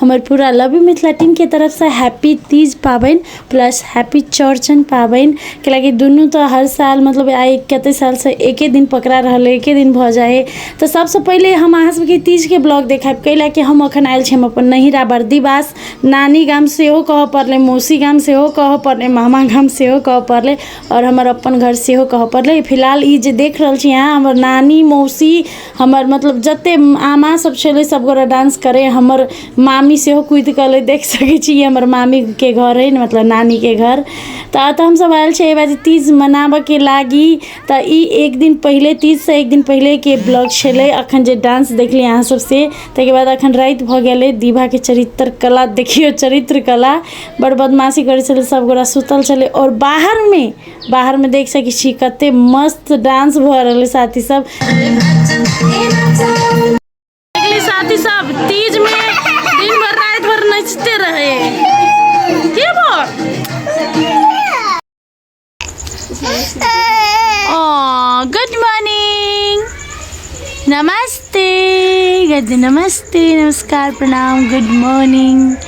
हमर पूरा love you Mithila टीमके तरफसँ हैप्पी तीज पाबनि प्लस हैप्पी चौरचन पाबनि किएक लए कि दुनू तऽ हर साल मतलब आइ कते सालसँ एके दिन पकड़ा रहल अइ एके दिन भऽ जाइ अइ तऽ सबसँ पहिले हम अहाँ सबके तीजके ब्लॉग देखायब कै लए कि हम एखन आयल छी हम अपन नैहरा बर्दिवास नानी गाम सेहो कहऽ पड़लै मौसी गाम सेहो कहऽ पड़लै मामा गाम सेहो कहऽ पड़लै आओर हमर अपन घर सेहो कहऽ पड़लै फिलहाल ई जे देख रहल छी अहाँ हमर नानी मौसी हमर मतलब जते आमा सब छलै सब गोरा डांस करे हमर मामी सेहो कूदि कऽ अलै देख सकै छी ई हमर मामी के घर अइ मतलब नानी के घर तऽ एतऽ हमसब आयल छी एहिमे जे तीज मनाबऽ के लागी तऽ ई एक दिन पहिले तीज सँ एक दिन पहिले के ब्लॉग छलै अखन जे डांस देखलियै अहाँ सब से ताहिके बाद अखन राति भऽ गेल अइ दीभा के चरित्र कला देखियौ चरित्र कला बड़ बदमाशी करै छलै सब गोरा सुतल छलै आओर बाहर मे बाहर में देख सके छी कते मस्त डांस भ रहल साथी सब साथी सब तीज में दिन भर रात भर नचते रहे के गुड मॉर्निंग नमस्ते गज नमस्ते नमस्कार प्रणाम गुड मॉर्निंग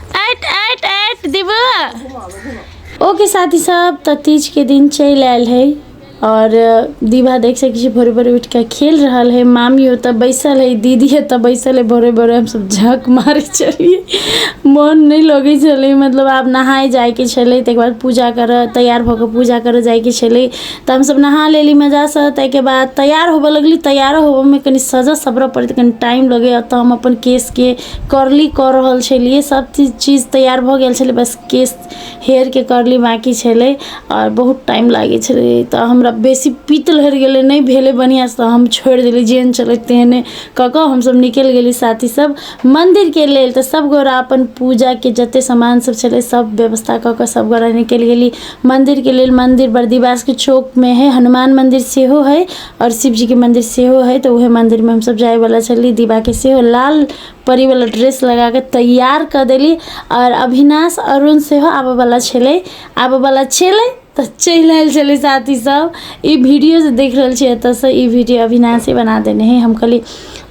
ऐट ऐट ऐट दिबू ओके साथी सब तो तीज के दिन चल आयल है और दीवा देख सकै छी भोरे भोरे उठ के खेल रहा है मामी ओतऽ बैसल है दीदी एतऽ बैसल है भोरे भोरे हम सब झक मारे चलिए मन नहीं लगे छे मतलब आप नहाए जाए के छे तक बाद पूजा कर तैयार होकर पूजा कर जाए के छे तो हम सब नहा लेली मजा से तक बाद तैयार होबे लगली तैयार होबे में कनी सजा सबरा पड़े कनी टाइम लगे तो हम अपन केस के करली कऽ रहल छलियै सब चीज चीज तैयार भऽ गेल छलै बस केश हेयर के करली बाकी छलै आओर बहुत टाइम लागै छलै तऽ हमरा बेसी पित्त लहरि गेलै नहि भेलै बढ़िऑं सँ तऽ हम छोड़ि देली जेहन छलै तेहने कऽ कऽ हमसब निकलि गेली साथी सब मन्दिर के लेल तऽ सब गोरा अपन पूजा के जते समान सब छलै सब व्यवस्था कऽ कऽ सब गोरा निकलि गेली मन्दिर के लेल मन्दिर बरदिवास के चौक मे है हनुमान मन्दिर सेहो है आओर शिवजीके मन्दिर सेहो हइ तऽ ओहे मन्दिरमे हमसब जाइवला छली दिबाके सेहो लाल परीवला ड्रेस लगाके तैयार कऽ देली आओर अभिनाश अरुण सेहो आबऽवला छलै आबऽवला छलै तऽ चलि आएल छलै साथी सब ई वीडिओ जे देखि रहल छिए एतऽसँ ई वीडिओ अभिनाशे बना देने हइ हम कहली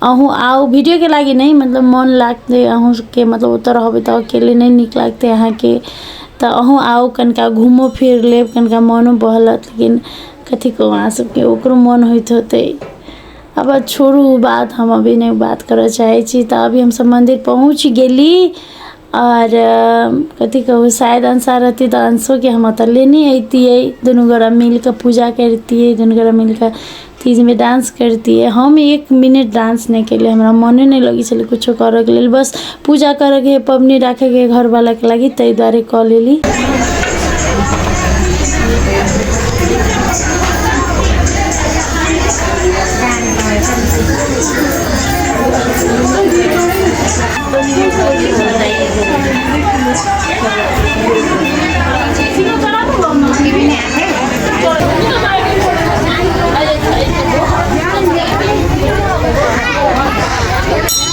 अहूँ आउ वीडिओके लागी नहि मतलब मोन लागतै अहूँ सबके मतलब ओतऽ रहबै तऽ अकेले नहि नीक लागतै अहाँके तऽ अहूँ आउ कनिका घुमिओ फिरि लेब कनिका मोनो बहलत लेकिन कथी कहू अहाँ सबके ओकरो मोन होइत होतै अब छोड़ू ओ बात हम अभी नहि बात करऽ चाहै छी तऽ अभी हमसब मन्दिर पहुँच गेली आओर कथी कहू शायद अंशा रहती तऽ अंशोके हम ओतऽ लेने अइतियै दुनू गोरा मिलके पूजा करतियै दुनू गोरा मिलके तीजमे डांस करतियै हम एक मिनट डांस नहि केलियै हमरा मोने नहि लगै छलै कुछो करऽके लेल बस पूजा करैके हइ पबनी राखैके हइ घरवालाके लागि ताहि दुआरे कऽ लेली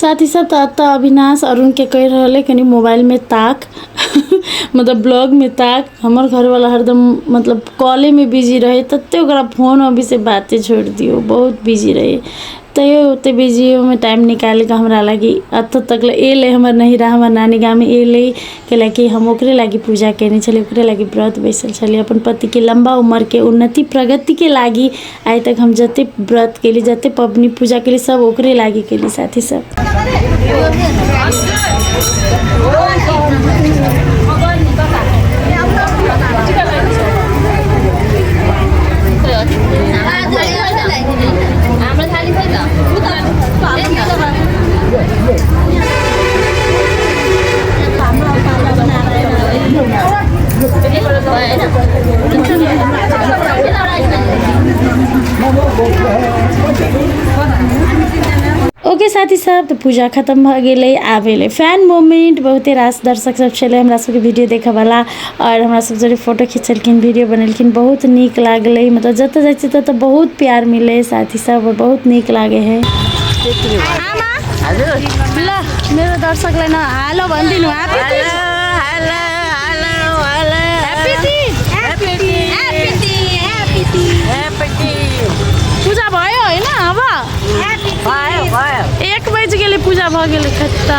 साथी सब त त अविनाश अरुण के कह रहल है कनी मोबाइल में ताक मतलब ब्लॉग में ताक हमर घर वाला हरदम मतलब कॉले में बिजी रहे तते ओकरा फोन अभी से बाते छोड़ दियो बहुत बिजी रहे तैयो ओते बिजी में टाइम निकाल के हमरा लगी अत तक ले एले हमर नहीं रहा हमर नानी गाँव में एले कैलाकि हम ओकरे लागि पूजा केने छलियै ओकरे लागि व्रत बैसल छलियै अपन पतिके लम्बा उमरके उन्नति प्रगतिके लागि आइ तक हम जते व्रत केली जते पबनी पूजा केली सब ओकरे लागि केली साथी सब ओके साथी सब तो पूजा खत्म भ गए आबे फैन मोमेंट बहुते रास दर्शक सब छे हमरा सबके वीडियो देखे वाला आओर हमरा सब जरे फोटो खिचेलखिन वीडियो बनेलखिन बहुत नीक लागलै मतलब जतऽ जाइ छियै ततऽ बहुत प्यार मिलै साथी सब बहुत नीक लागे है ल मेरो दर्शकलाई न हेलो भनिदिनु पूजा भयो होइन अब एक बजीकले पूजा भयो गेले खत्ता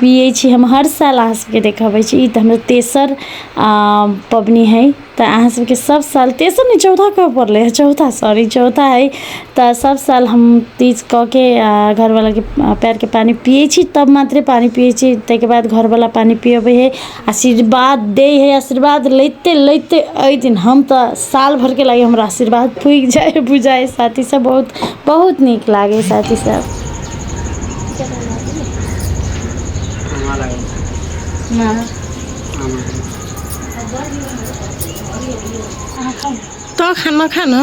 पियै छी हम हर साल अहाँ सबके देखाबै छी ई तऽ हमर तेसर पबनी है तऽ अहाँ सबके सब साल तेसर नहि चौथा कऽ पड़लै है चौथा सॉरी चौथा है तऽ सब साल हम तीज कऽ के घरवालाके पयरके पानि पियै छी तब मात्रे पानि पियै छी ताहिके बाद घरवाला पानि पियबै है आशीर्वाद दै हइ आशीर्वाद लैते लैते अइ दिन हम तऽ साल भरिके लागि हमरा आशीर्वाद पुगि जाइ हइ पुगि जाइ हइ साथी सब बहुत बहुत नीक लागै हइ साथी सब तऽ खाना खाना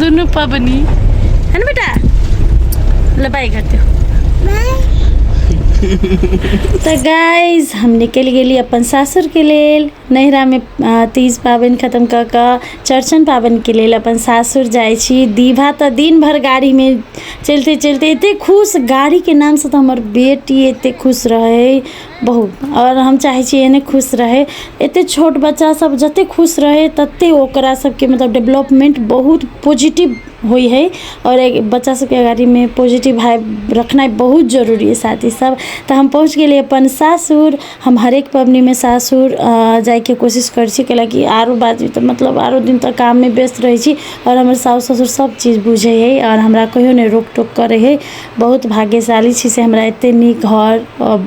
दोनों पबनी है ना बेटा लबाई कर दो तो गाइज हम निकल गए अपन सासुर के लेल नैहरा में तीज पाबन खत्म क के चौरचन पाबन के लेल अपन सासुर जाए दीभा तो दिन भर गाड़ी में चलते चलते एत खुश गाड़ी के नाम से तो हमारे बेटी एत खुश रहे बहुत आओर हम चाहै छी एहने खुश रहै एतेक छोट बच्चासब जतेक खुश रहै ततेक ओकरासबके मतलब डेवलपमेन्ट बहुत पॉजिटिव होइ हइ आओर एक बच्चासबके अगाड़ीमे पॉजिटिव भाइव रखनाइ बहुत जरूरी हइ साथ ईसब तऽ हम पहुँच गेली अपन सासुर हम हरेक पबनीमे सासुर जाइके कोशिश करै छी कएलाकि आओर बाजू तऽ मतलब आओर दिन तऽ काममे व्यस्त रहै छी आओर हमर साउस ससुर सबचीज बुझै हइ आओर हमरा कहिओ नहि रोकटोक करै हइ बहुत भाग्यशाली छी से हमरा एतेक नीक घर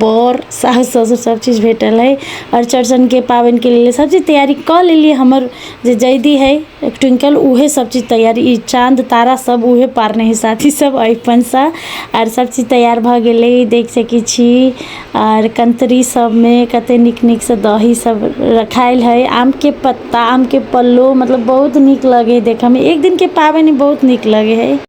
बर सासु ससुर सभचीज भेटल अइ आओर चौरचनके पाबनिके लेल सभचीज तैयारी कऽ लेलियै हमर जे जैधी हइ ट्विंकल उएह सभचीज तैयारी ई चाँद तारा सभ उएह पारने हइ साथीसभ अरिपनसँ आओर सभचीज तैयार भऽ गेलै देखि सकै छी आओर कन्तरी सभमे कतेक नीक नीकसँ दहीसभ रखायल हइ आमके पत्ता आमके पल्लो मतलब बहुत नीक लगै हइ देखयमे एक दिनके पाबनि बहुत नीक लगै हइ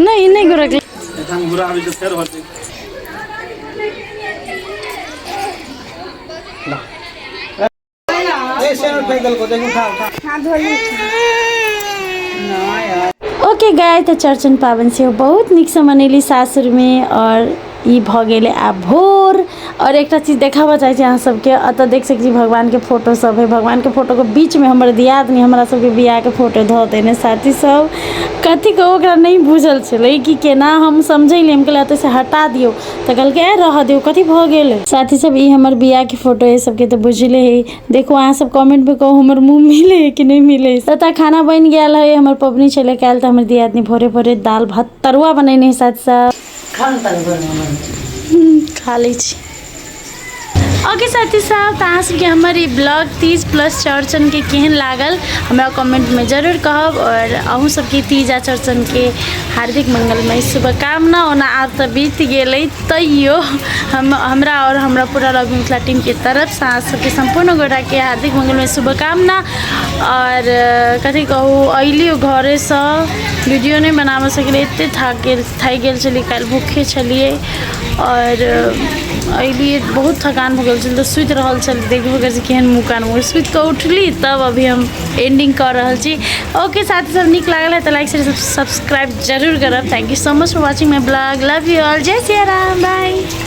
नहि नहि गोर लागलै जखन बुरा आबी तऽ फेर होतै ओके गाय तऽ चौरचन पाबनि सेहो बहुत नीकसँ मनैली सासुरमे आओर ई भऽ गेलै आब भोर आओर एकटा चीज देखाबऽ चाहै छी अहाँ सबके एतऽ देख सकै छी भगवानके फोटो सब हइ भगवानके फोटोके बीचमे हमर दियादनी हमरा सबके बिआहके फोटो धऽ देने साथी सब कथी कहू ओकरा नहि बुझल छलै कि कोना हम समझैलए हम कहलिए एतऽसँ हटा दिऔ तऽ कहलकै ए रहऽ दिऔ कथी भऽ गेलै साथी सब ई हमर बिआहके फोटो हइ सबके तऽ बुझले हइ देखू अहाँसब कमेन्टमे कहू हमर मुँह मिलै हइ कि नहि मिलै हइ एतऽ खाना बनि गेल हइ हमर पबनी छलै काल्हि तऽ हमर दियादनी भोरे भोरे दाल भात तरुआ बनेने हइ साथी सब खा न तनी गरम गरम हम्म, खा लै छी ओके साथी साहब तऽ अहाँ सबके हमर ई ब्लॉग तीज प्लस चौड़चन के केहन लागल हमरा कमेंट में जरूर कहब और अहूँ सबके तीज आ चौड़चन के हार्दिक मंगलमय शुभकामना ओना आब तऽ बीत गेलै तैयो हम हमरा और हमरा पूरा लॉग मिथिला टीम के तरफ से अहाँ सबके संपूर्ण गोटा के हार्दिक मंगलमय शुभकामना और अ, कथी कहू अइलियो घरे से वीडियो नहि बनाबऽ सकलै एते थाक गेल थाकि गेल छलियै काल्हि भूखे छलियै आओर अयलियै बहुत थकान भऽ गेल छलै तऽ सुति रहल छलियै देखबो करै छी केहन मुँह कान मुँह सुति कऽ उठली तब अभी हम एंडिंग कऽ रहल छी ओके साथ सब नीक लागल है तऽ लाइक शेयर सब्सक्राइब जरूर करब thank you so much for watching my blog love you all जय सिया राम बाय